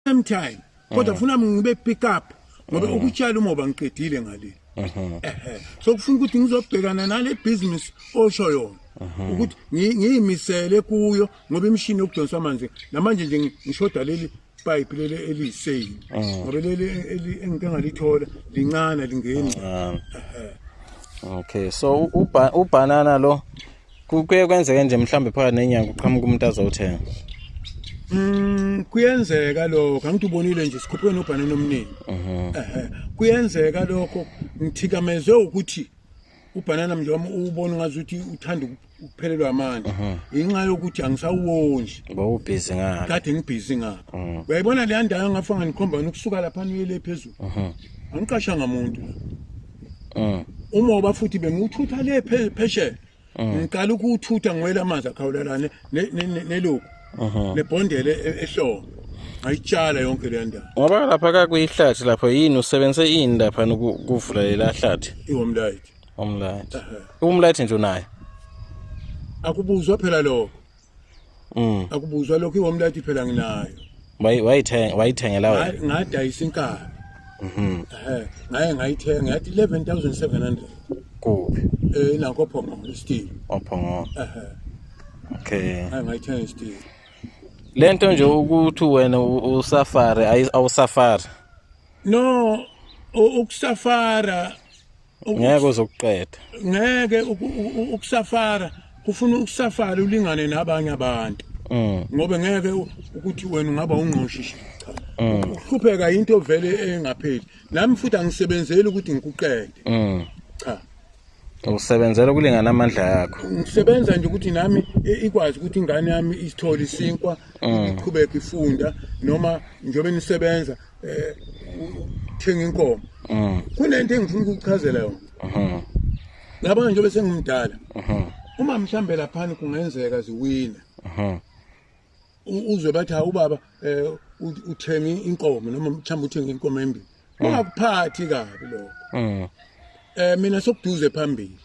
same time kodwa funa ngibe pick up ngoba ukutshala umoba ngiqedile ngaleli ehe so kufuna ukuthi ngizobhekana nale business osho yona ukuthi ngi- ngiyimisele kuyo ngoba imishini yokudonsa amanzi namanje nje ngi- ngishoda leli pipe leli eliyiseyini ngoba leli eli- engike ngalithola lincane lingeni Ah. Okay, so u- uba- ubhanana lo kuye kwenzeke nje mhlawumbe phakathi nenyanga uqhamuka umuntu azowuthenga Mm kuyenzeka lokho angithi ubonile nje sikhuphe nobhanana omningi. Mhm. Ehhe kuyenzeka lokho ngithikamezwe ukuthi ubhanana mnje wami ubona ngazuthi uthanda ukuphelelwa amandla mhm. inxa yokuthi angisawondli bawubhizi ngalo kade ngibhizi ngalo mhm. uyayibona leya ndawo ngafa nganikhomba nokusuka lapha niyele phezulu angiqashanga muntu Mm. umoba futhi bengiwuthutha le phe- phesheya Mm. ngiqala ukuwuthutha ngiwela amanzi akhawulelane ne- ne- ne- neloku Mhm. nebhondele e- ehlongo ngayitshala yonke leya ndawo Ngoba lapha ka kuyihlathi lapho yini usebenzise ini lapha ukuvula lela hlathi iwomlayiti umlathi. Umlathi nje unayo. akubuzwa phela lokho Mm. Akubuzwa lokho iwom lathi phela nginayo. Wayi wayithenga wayithengela wena. Ngadayisa inkabi. Mhm. Eh, ngaye ngayithenga yathi 11700. Kuphi? Eh, nakho phongo isteel. Ophongo. Eh. Okay. Hayi ngayithenga isteel. Lento nje ukuthi wena usafari awusafari. No, ukusafara ngeke uzokuqeda ngeke ukusafara kufuna ukusafara ulingane nabanye abantu mm. ngoba ngeke ukuthi wena ungaba ungqoshishi mm. uhlupheka into vele engapheli nami futhi angisebenzeli ukuthi ngikuqede mm. cha usebenzela ukulingana amandla yakho ngisebenza nje ukuthi nami ikwazi ukuthi ingane yami isithole isinkwa iqhubeke ifunda noma njengoba nisebenza eh ukuthenga inkomo mm. kunento engifuna ukukuchazela yona mhm. ngaba nje bese ngimdala mhm. uma mhlambe laphana kungenzeka ziwina mhm. uzwe bathi ha ubaba eh, uthenge inkomo noma mhlambe uthenge inkomo embili mm. ungakuphathi kabi lokho mm. eh mina sokuduze phambili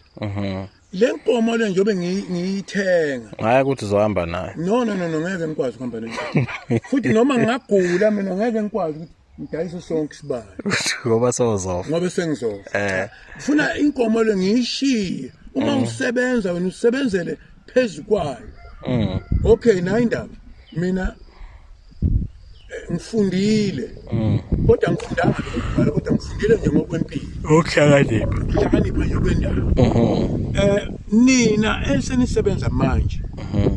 le nkomo le njengoba ngiyithenga hayi ukuthi uzohamba nayo no no no no ngeke ngikwazi ukuhamba nayo futhi noma ngingagula mina ngeke ngikwazi ukuthi ngidayise sonke isibalo ngoba sozofa ngoba sengizofa eh ngifuna inkomo le ngiyishiye uma mm. usebenza wena usebenzele phezukwayo mm. okay nayo indaba mina ngifundile mm. kodwa ngifundanga lokubhala kodwa ngifundile nje ngokwempilo ukuhlakanipha ukuhlakanipha nje kwendawo um nina esenisebenza manje mhm.